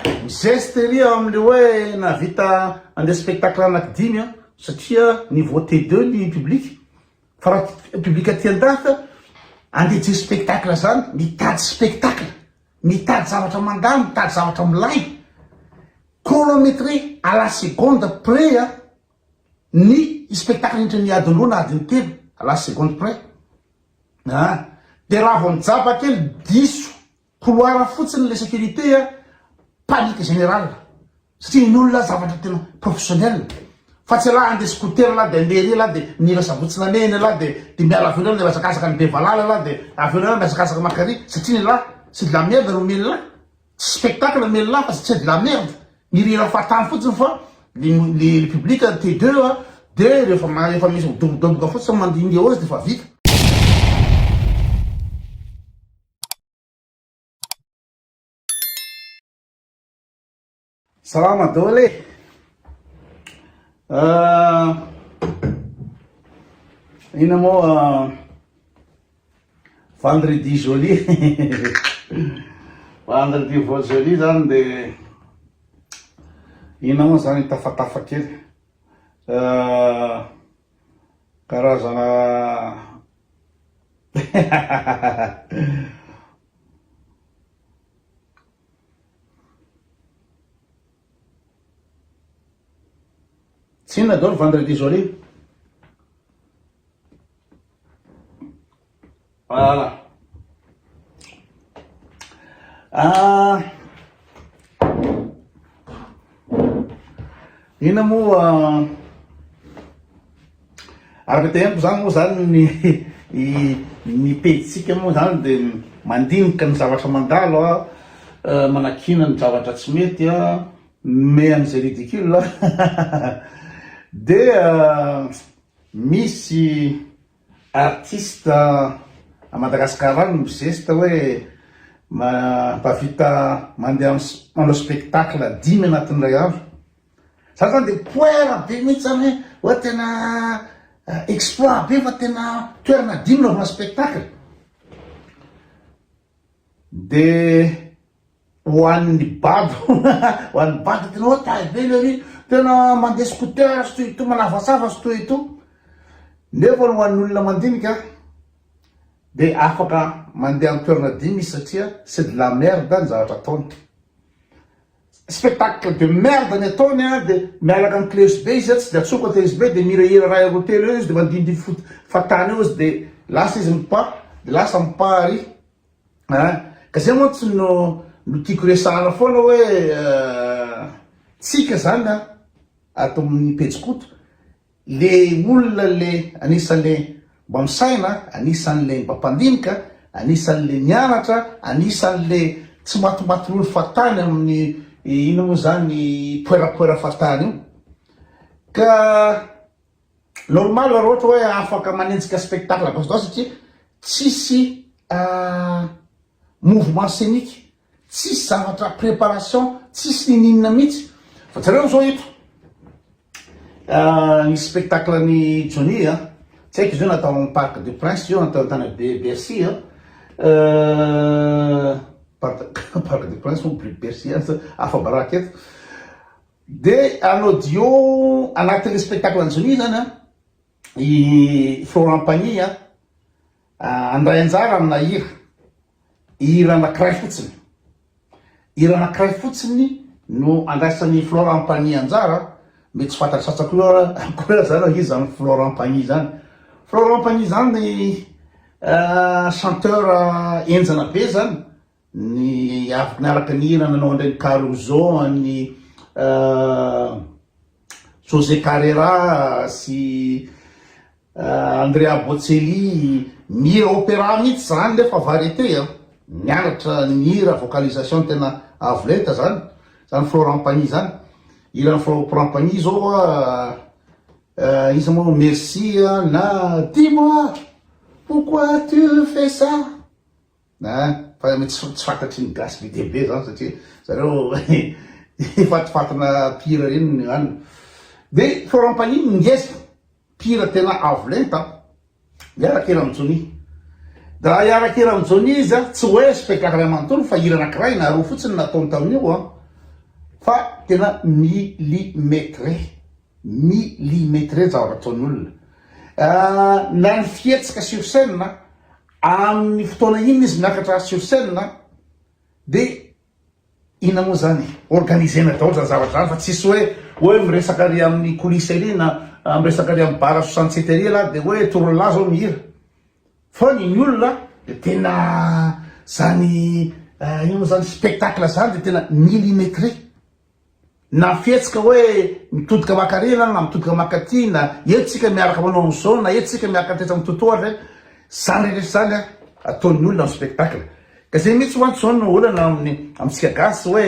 Mizeste ery amle hoe nahavita nandeha spectacle anaky dimy an, satria niveau T deux ny public, fa raha public aty an-dafy andeha hijery spectacle zany, mitady spectacle, mitady zavatra mandà, mitady zavatra milay, chronometré à la seconde près an, ny spectacle indrindra ny adiny roa na adiny telo à la seconde près an, dia raha vao mijaba kely diso Couloir fotsiny le sécurité a, panique général satria ny olona zavatra tena professionnel fa tsy elah andeha scooter elah dia andeha ery elah dia mila sabotsy namehiny elah dia dia miala avy eo dia mihazakazaka any Bevalala elah dia avy eo mihazakazaka makany ary satria ny elah c'est de la merde no omen'ny elah tsy spectacle omen'ny elah fa c'est de la merde mirihira fahatany fotsiny fa ny ny public te deux a dia rehefa rehefa misy midobodoboka fotsiny mandihindiha eo izy dia efa vita Salama daholo e! Ina moa vendredi joli vendredi vo joli zany de ina moa zany tafatafa kely Karazana Tsinona daholo vendredi zao ry. Voilà. Ah. Ina moa ah, araka te amiko zany moa zany ny ny pejitsika moa zany de mandinika ny zavatra mandalo a ah, manakina ny zavatra tsy mety a ah, me an'izay ridicule de misy Artiste à Madagascar no mizesta hoe mahavita mandeha manao spectacle dimy anatin'ny iray andro. Zany zany dia poera be mihitsy zany hoe hoe tena exploit be fa tena toerana dimy naovana spectacle. De ho an'ny bado ho an'ny bado tena hoe taille be le riz tena mandeha scooter sy toy itony manavasava sy toy itony nefa ho an'olona mandinika de afaka mandeha amin'ny toerana dimy izy satria c'est de la merde ny zavatra ataony Spectacle de merde ny ataony an, de miaraka am cleus be izy an, tsy de atsofoka cleus be, de mihirahira ray roa telo eo izy, de mandindiy foot fatany eo izy, de lasa izy mipaha, de lasa mipaha ary an, ka zay mantsy no no tiako resahana foana hoe tsika zany an, ato am pejy koto Le olona le anisan le mba misaina, anisan le mba mpandinika, anisan le mianatra, anisan le tsy matimatilolo fahatany aminy inona moa zany poerapoera fahatany io. Ka normal ra ohatra hoe afaka manenjika spectacle gauche droite satria tsisy mouvement scenique Tsisy zavatra préparation tsisy nininona mitsy fa jereo zao eto ah, ny spectacle ny Johnny ah, tsy haiko izy io natao amin'ny parc de prince io natao tany Bercy ah, euh, parc de prince ou Bercy ah, afa-baraka eto de en audio anatin'ny spectacle ny Johnny zany ah, i Florent Pagny ah, andray anjara amina hira hira anankiray fotsiny. Hira anankiray fotsiny no andraisan'i Florent Pagny anjara, mety tsy fantatry sasany koa akory aza raha izy zany Florent Pagny zany. Florent Pagny zany euh, chanteur henjana be zany, ny avy niaraka ny hira nanao an-dReny Caruso, an'ny euh, Jose Carreira sy Andrea Bocelli mihira opera mihitsy zany nefa variété a, mianatra ny hira vocalisation tena avo lenta zany, zany Florent Pagny zany, hiran'i Florent Pagny zao a, iza moa merci a na dis-moi pourquoi tu fais ça. A, fa mety tsy tsy fantatry ny gasy be dia be zany satria zareo fatifatina mpihira reny ny any. De Florent Pagny no ngeza, mpihira tena avo lenta a. Miaraka hira am Johnny. De raha hiaraka hira am Johnny izy a, tsy hoe spectacle iray manontolo fa hira anakiray na roa fotsiny no nataony tamin'io a. Fa tena millimetre, millimetre ny zavatra ataon'olona. A, na ny fihetsika sur scène a. Amin'ny fotoana inona izy miakatra sur scène dia inona moa izany e? Organiser-na daholo izany zavatra izany fa tsisy hoe hoe miresaka ary amin'ny coulisse ery na miresaka ary amin'ny bar à soixante sept ery ialahy dia hoe toro lahy izao mihira fa ny ny olona dia tena izany inona moa izany spectacle izany dia tena millimétré. Na ny fihetsika hoe mitodika mankarena na mitodika mankaty na eto tsika miaraka manao an'izao na eto tsika miaraka tetsy amin'ny toto ohatra hoe izany rehetra izany ataon'ny olona amin'ny spectacle. Ka izay mihitsy mantsy izao no olana amin'ny amintsika gasy hoe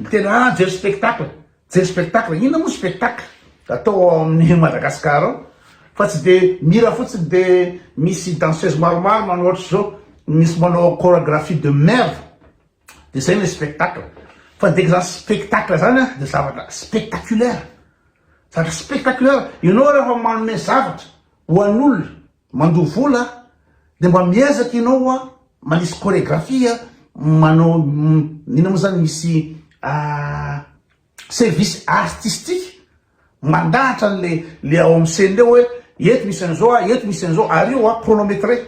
miteny hoe ah jery spectacle, jery spectacle, inona moa spectacle atao ao amin'ny Madagascar ao fa tsy dia mihira fotsiny dia misy danseuse maromaro manao ohatr'izao, misy manao choragraphie de merde. Dia izay ilay spectacle. Fa dia izany spectacle izany an, dia zavatra spectaculaire. Zavatra spectaculaire. Ianao rehefa manome zavatra ho an'olona mandoa vola an, dia mba miezaka ianao an, manisy chorégraphie an, manao, inona moa izany misy, service artistique mandahatra anle le ao am scène le oe eto misy anzao a eto misy anzao ary io a chronometre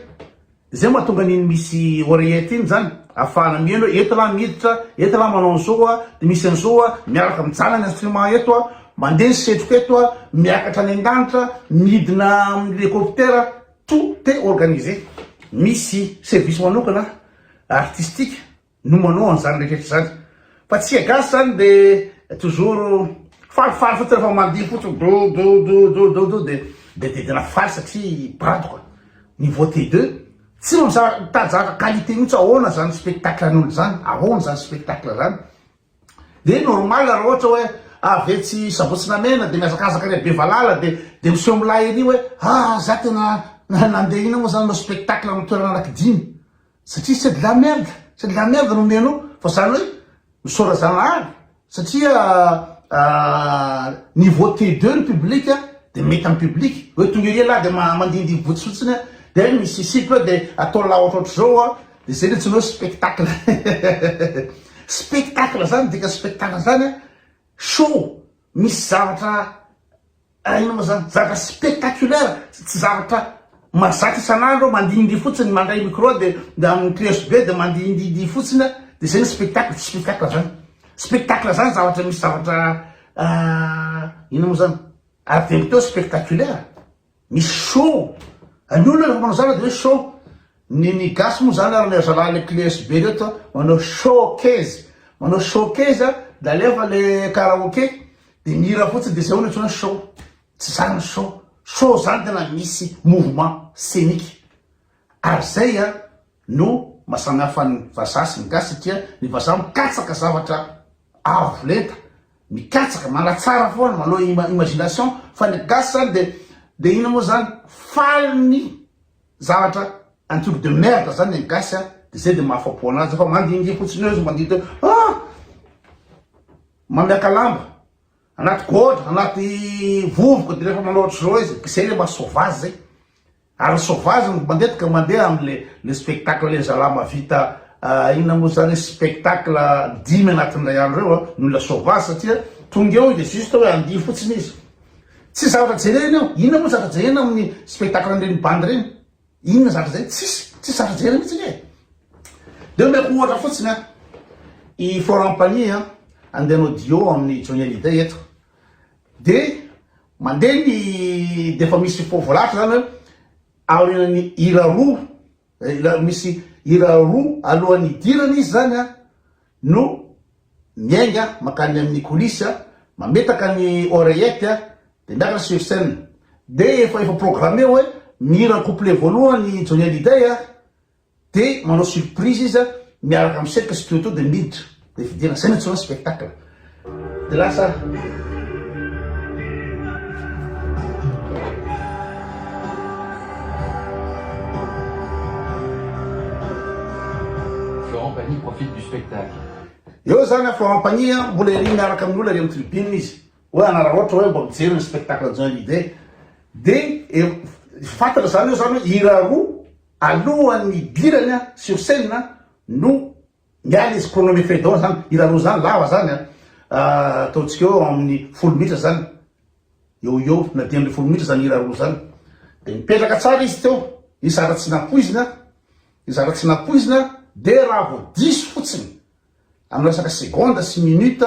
zay matonga aniny misy oreillette iny zany afahana mieno oe eto lah miditra eto lah manao anzao a de misy anzao a miaraka mijanona ny instrument eto a mande ny setroka eto a miakatra any andanitra midina amle helicoptera tout est organisé misy service manokana artistique no manao an'izany rehetra izany fa tsika gasy zany de toujours falifaly fotsiny rehefa mandihy fotsiny dodododododo de de de tena faly satria badoka niveau T2 tsy mamizaka mitady zavatra qualité mihitsy ahoana zany spectacle an'olo zany ahoana zany spectacle zany de normal raha ohatra hoe avy etsy sabotsy na mena de mihazakazaka any bevalala de de miseho milay ery hoe ah za tena nandeha ina moa zany no spectacle amin'ny toerana anaky dimy Satria c'est de la merde, c'est de la merde no omenao fa zany hoe misaora zanahary satria niveau T2 ny public de mety am public hoe tonga ery ialahy de mandindiy boots fotsiny de misisiky hoe de atao la ohatraohatr zao de zay le antsoina hoe spectacle spectacle zany dika spectacle zany show misy zavatra Hainao moa zany, zavatra spectaculaire, tsy zavatra mahazatra isan'andro aho mandihindihy fotsiny, mandray micro de amin'ny clé usb de mandihindihidihy fotsiny aho de zay ny spectacle, tsy spectacle zany, spectacle zany zavatra misy zavatra inona moa zany, ary de avy teo spectaculaire, misy show, ny olona refa manao zavatra de hoe show, Ny ny gasy moa zany ary le zalahy le clees be reto a manao showcase manao showcase a de alefa le karaoke de mihira fotsiny de zay hono antsoina hoe show tsy zany ny show show zany tena misy mouvement scenique ary zay a no maha samy hafa ny vazaha sy ny gasy satria ny vazaha mikatsaka zavatra avo lenta mikatsaka manatsara foana manao imagination fa ny gasy zany de de inona moa zany faly ny Zavatra un truc de merde zany ny gasy a, de zay de mahafapo anazy fa mandingia fotsiny eo izy mandidy hoe ah! mamiaka lamba anaty gôdra anaty vovoka de refa manao otrzao izy de zay le maha sauvage zay ary ny sauvage no mandetika mandeha amle le spectacle le zala mavita inona mo zany spectacle dimy anatin'ny ray andro eo a ny olona sauvage satria tonga eo izy de juste hoe handihy fotsiny izy. Tsy zavatra jerena io. Inona moa zavatra jerena amin'ny spectacle an'ireny bandy ireny? Inona zavatra jerena? Tsisy, tsisy zavatra jerena mihitsy anie. Dia omeko ohatra fotsiny an. I Florent Pagny an, andeha hanao duo amin'ny Johnny Hallyday eto. Dia mandeha ny dia efa misy fo voalahatra izany hoe aorian'ny hira roa, misy hira roa alohan'ny hidirana izy izany an. no miainga mankany amin'ny coulisse, mametaka ny oreillette dia miakatra sur scène. Dia efa efa programme hoe mihira ny couplet voalohany i Johnny Hallyday a! dia manao surprise izy miaraka amin'ny sec sy Toto dia miditra dia vidiana. Izay no antsoina hoe spectacle. Florent Pagny profite du spectacle. Eo zany an, Florent Pagny an, mbola ery miaraka amin'ny olona ery amin'ny tribune izy, hoe anararaotra hoe mba mijery ny spectacle Johnny Hallyday, dia fantatra zany eo zany hoe hira roa alohan'ny hidirany sur scène no. Miala izy pronomer fedon zany irareo zany lava zany an! ataontsika eo amin'ny folo minitra zany eo ho eo na dimy ambin'ny folo minitra zany irareo zany de mipetraka tsara izy teo ny zara tsy nampoizina ny zara tsy nampoizina de raha vao diso fotsiny amin'ny resaka seconde sy minute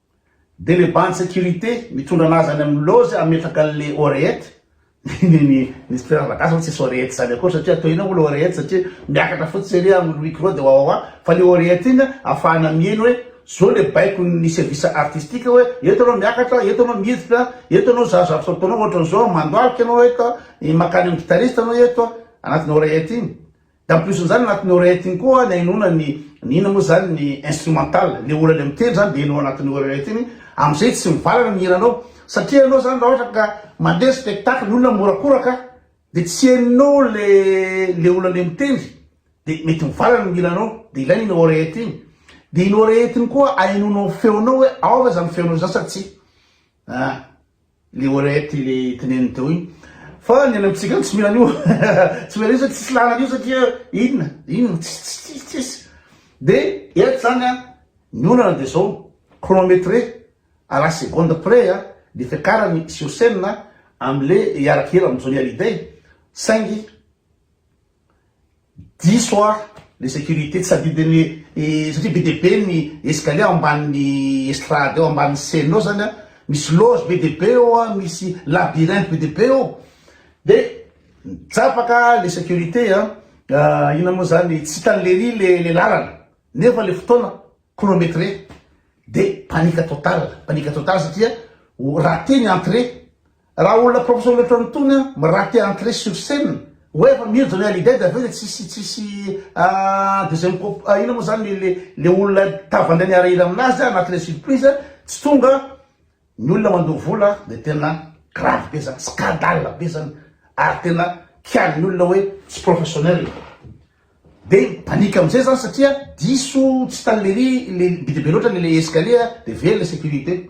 Dia le bandy securite mitondra anazy any aminy loge ametraka anle oreette ny ny mister Ravagasy aloha tsisy oreette zany akory satria atao ina moa le oreette satria miakatra fotsiny ery a micro dia wawawa fa le oreette iny a afahana miheno hoe zao le baikony service artistique hoe eto anao miakatra eto anao miditra eto anao zary zavatra ataonao ohatran'izao mandoalika anao eto a mankany aminy guitariste anao eto a anatiny oreette iny En plus an'izany anatin'ny oreillette iny koa ny hainoana ny ny inona moa izany ny instrumental, ilay olona ilay mitendry izany dia hainao anatin'ny oreillette iny, amin'izay tsy mivalana ny hiranao satria ianao izany raha ohatra ka mandeha spectacle ny olona mihorakoraka dia tsy hainao ilay ilay olona ilay mitendry dia mety mivalana ny hiranao dia ilaina iny oreillette iny, dia iny oreillette iny koa hainoanao ny feonao hoe ao ve izany feonao izany sa tsia, an. Le orety le teneniny teo iny fa ny any amintsika tsy mila an'io tsy mila an'io satria tsisy lalana an'io satria inona inona tsisy tsisy de eto zany a ny olana de zao chronométré à la seconde près a ny fiakarany sur scène amle hiaraka hira am Johnny Hallyday saingy Diso aho le sécurité tsy adidiny satria be dia be ny escalier ao ambanin'ny estrade ao ambanin'ny scène ao zany misy loge be dia be eo misy labyrinthe be dia be eo de mijapaka le sécurité a inona moa zany tsy hitan'i lery le le lalana nefa le fotoana chronometré de panique totale panique totale satria ho raté ny entrée Raha olona professeur loatra ny tony an, mi rate entrée sur scène, hoe efa mino Johnny Hallyday dia avy eo dia tsisy tsisy an deuxième propo, inona moa zany le le olona tava ndray niarahira aminazy anaty le surprise tsy tonga ny olona mandoa vola dia tena grave be zany, scandale be zany ary tena kiali ny olona hoe tsy professionnel dia mi panique amizay zany satria diso tsy tany lery le be dia be loatra le le escalier dia very le sécurité.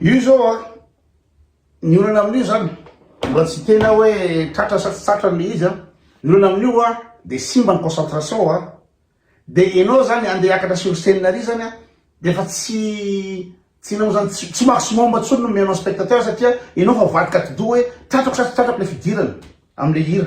Io zao an, ny olana amin'io zany, mbola tsy tena hoe tratra sa tsy tratra le izy an, ny olana amin'io an de simba ny concentration an, de enao zany andeha hiakatra sur scene ary zany an, de efa tsy tsy enao zany tsy maximum intsony no omenao spectateur satria enao efa mivadika atidoha hoe tratrako sa tsy tratrako le fidirana amle hira,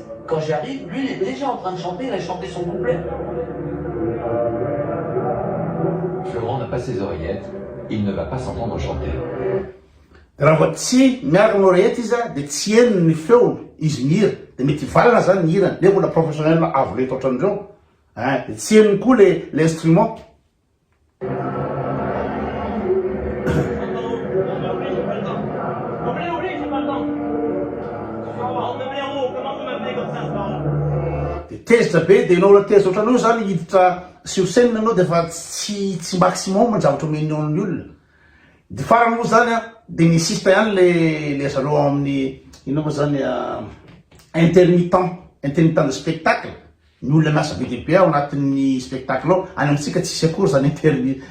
Quand j'y arrive, lui il est dejà en train de chanter, il a chanté son couplet. Florent n'a pas ses oreillettes, il ne va pas s'entendre chanter. Raha vao tsy miaraka amin'ny oreillette izy a, dia tsy henony ny feony, izy mihira, dia mety hivalana izany ny hirany, nefa mbola professionnel avo lenta ohatran'ireo, eh, dia tsy henony koa ilay, ilay instrument. dia tezitra be dia ianao raha tezitra ohatran'io zany hiditra sur scène ianao dia efa tsy tsy maximum ny zavatra omen'ny ol- ny olona dia farany moa zany an dia ny sista ihany le le zareo ao amin'ny inona moa zany intermittent intermittent de spectacle Ny olona miasa be dia be ao anatin'ny spectacle ao, any amintsika tsisy akory zany intermi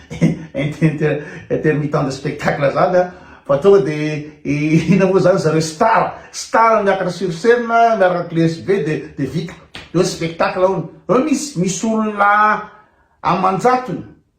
inter intermittent de spectacle zany an, fa tonga dia ina moa zany zareo star, star miakatra sur scène miaraka cleche be dia dia vita, eo ny spectacle hono, eo misy misy olona aman-jatony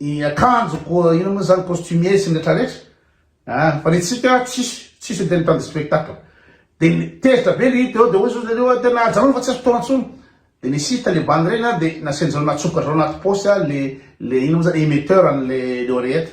ny akanjo ko ino moa zany costumier sy ny retraretra a ah, fa ny tsika tsisy tsisy tena tany spectacle de tezitra be ny teo de hoy zao zareo tena ajanona fa tsy azo fotoana tsony de ny site le bandy reny a de nasianjareo natsoka zao anaty posy a le le ino moa zany émetteur an'le le oreillette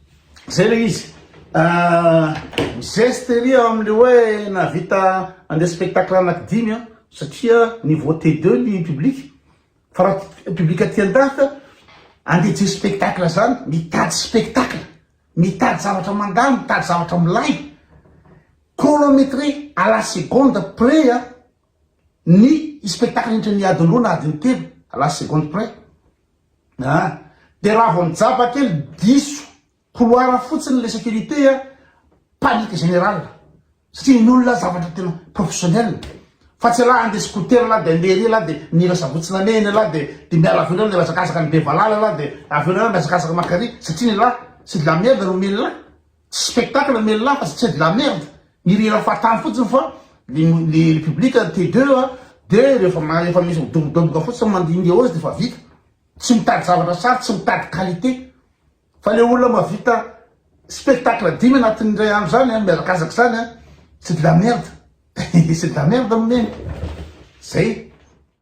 Zay le izy ahh mizeste ery ao amle hoe nahavita andeha spectacle anaky dimy an satria niveau T deux ny public fa raha public aty andafy andeha hijery spectacle zany mitady spectacle mitady zavatra mandalo mitady zavatra milay chronometre à la seconde près an ny spectacle indritra ny adiny roa na adiny telo à la seconde près a de raha vao mijaba kely diso couloir fotsiny le sécurité a panique générale satria ny olona zavatra tena professionnel fa tsy la andeha scooter la de andeha ery la de mila sabotsy namehiny la de de miala avy eo la de miazakazaka any Bevalala la de avy eo la miazakazaka makary satria ny la c'est de la merde no mila Spectacle mais là c'est de la merde, mirira fahatany fotsiny fa le public te deux a, de rehefa efa misy midobodoboka fotsiny mandringa eo izy defa vita, tsy mitady zavatra tsara, tsy mitady qualité, fa le olona mahavita spectacle dimy anatin'ny indray andro zany an, mihazakazaka zany an, c'est de la merde, c'est de la merde mon ami, zay.